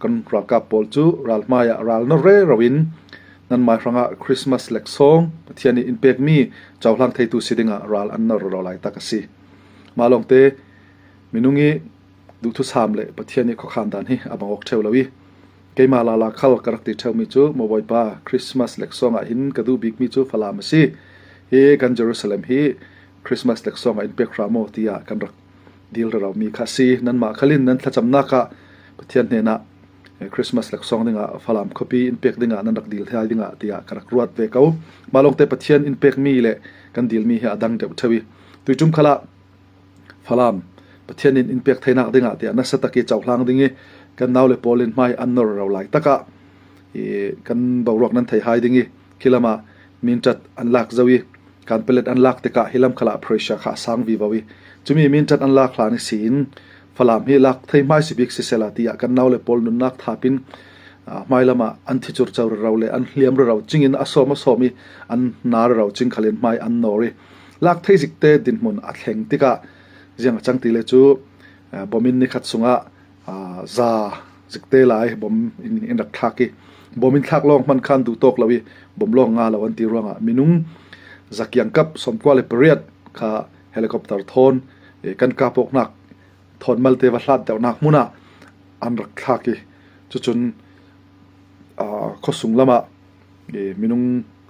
Kan ralkap pawl cu ral hmai ah ral na rero in nanmah hrangah Christmas laksawng Pathian nih in pekmi cohlang theitu si dingah ral an na roro lai tak a si. Mah lawngte minung i duhthusam le Pathian i khokhan dan hi a bang ok theo lo i keimah la la khal ka rak ti theomi cu mo bawipa Christmas laksawng ah hin ka duh bikmi cu falam a si hi kan Jerusalem hi Christmas laksawng ah in pek hra maw tiah kan rak dilralaumi kha a si. Nanmah khal in nan thlacamnak ah Pathian hnenah Christmas laksawng dingah Falam khuapi in pek dingah nan rak dil hial dingah tiah ka rak ruat ve ko. Mah lawngte Pathian in pekmi le kan dilmi hi a dang deuh thewi. Tui tum khala Falam Pathian in in pek thainak dingah tiah nasa taki chauhlang ding i kan nau le paul in mai an nor ro lai taka i kan boruak nan thei hai ding i Khi lam ah minṭat an lak zau i kan palet an lak tikah hi lam khalah Prussia kha a sang vi bau i cumi minṭat an lak hlan i si in Falam hi lak thei hmai si bik sisela tiah kan nau le pawl nunnak thapin hmai lam ah an thi curco raro le an hliam raro cing in a som a som i an na raro cing khalen hmai an nor i lak thei zik te dinhmun a thleng tikah ziang a cang ti le cu bomin nikhat sungah za cik te lai bom in in rak thlak i bom in thlak lawng hman khan duh tawk lo i bom lawng nga lo an ti ruangah minung zakiang kap som kwa le pariat kha helicopter thon kan ka pok nak thon mal te va hlat deuh nak muna an rak thlak i chuchun khosung lama minung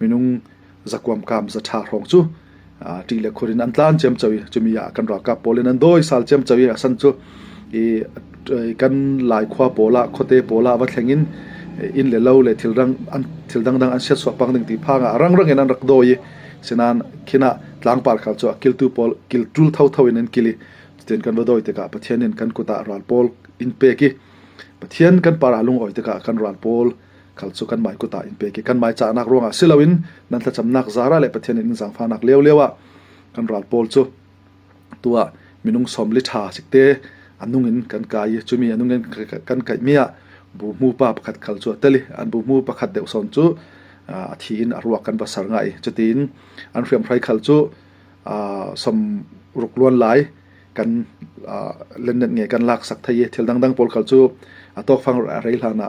minung zakuamkaam zaṭha hrawng cu ṭih le khur in an tlan ciamco i cumi ah kan ralkap pawl in an dawisal ciamco i a san cu i kan lai khua pawl ah khuate pawl ah va thleng in inn le lo le thil dang an thil dangdang an siat suakpang ding ti phang ah rangrang in an rak dawi i sinan khinah tlangpar khal cu kiltu pawl kil ṭul tho tho in an kil i cutin kan va dawi tikah pathian in kan kutah ral pawl in pek i pathian kan para lungoi tikah kan ral pawl khal cu kanmah kut ah in pek i kanmah cahnak ruangah si loin nan thlacamnak zara le pathian in zangfahnak lio lio ah kan ral pawl cu tu ah minung som li tha sikte anung in kan kai i chumi anung in kan kai mi ah bu mu pa pakhat khal chu atali an bu mu pakhat deuh son chu a thi in a ruak kan basar ngai chutin an hriam hrai khal chu som ruk luan lai kan lennet nge kan lak sak thai thil dang dang pol khal chu atok fang rei hlana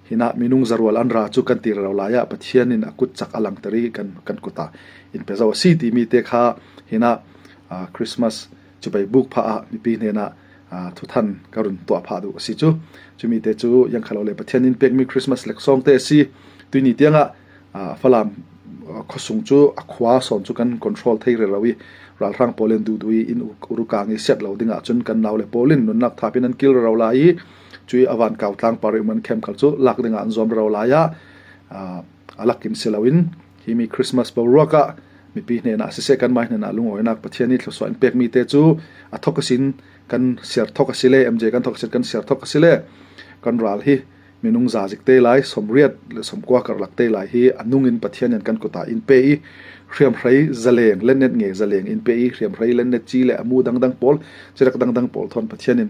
Hi nak minung zarual an ra cu kan tir lo lai ah Pathian in a kut chak a langter i kan kan kut ah in pezo a si timi te kha hi na Christmas cu bei buk pha ah mipi hnen ah thu than ka run tuah pha du a si cu chumi te cu yang khalo le Pathian in pekmi Christmas lek song te si tuini tiangah falam khosung cu a khwa son cu kan control thei re lo i ralhrang polin du du in urukang i set lo ding ahcun kan nau le polin nunnak thapin an kil ro la i Cui avan kau tlang pari man camp cu lak ding an zuam ro lai ya alak in siloin hi mi Christmas bo ruaka mipi ne na se kan mai na lung oi nak pathian ni thluso in pek mi te chu a thok asin kan ser thok asile mj kan thok asin kan ser thok asile kan ral hi minung za zik te lai som riat le som kwa kar lak te lai hi anung in pathian yan kan kota in pe i hriam hrei zaleng len net nge zaleng in pe i hriam hrei len net chi le amu dang dang pol chirak dang dang pol thon pathian in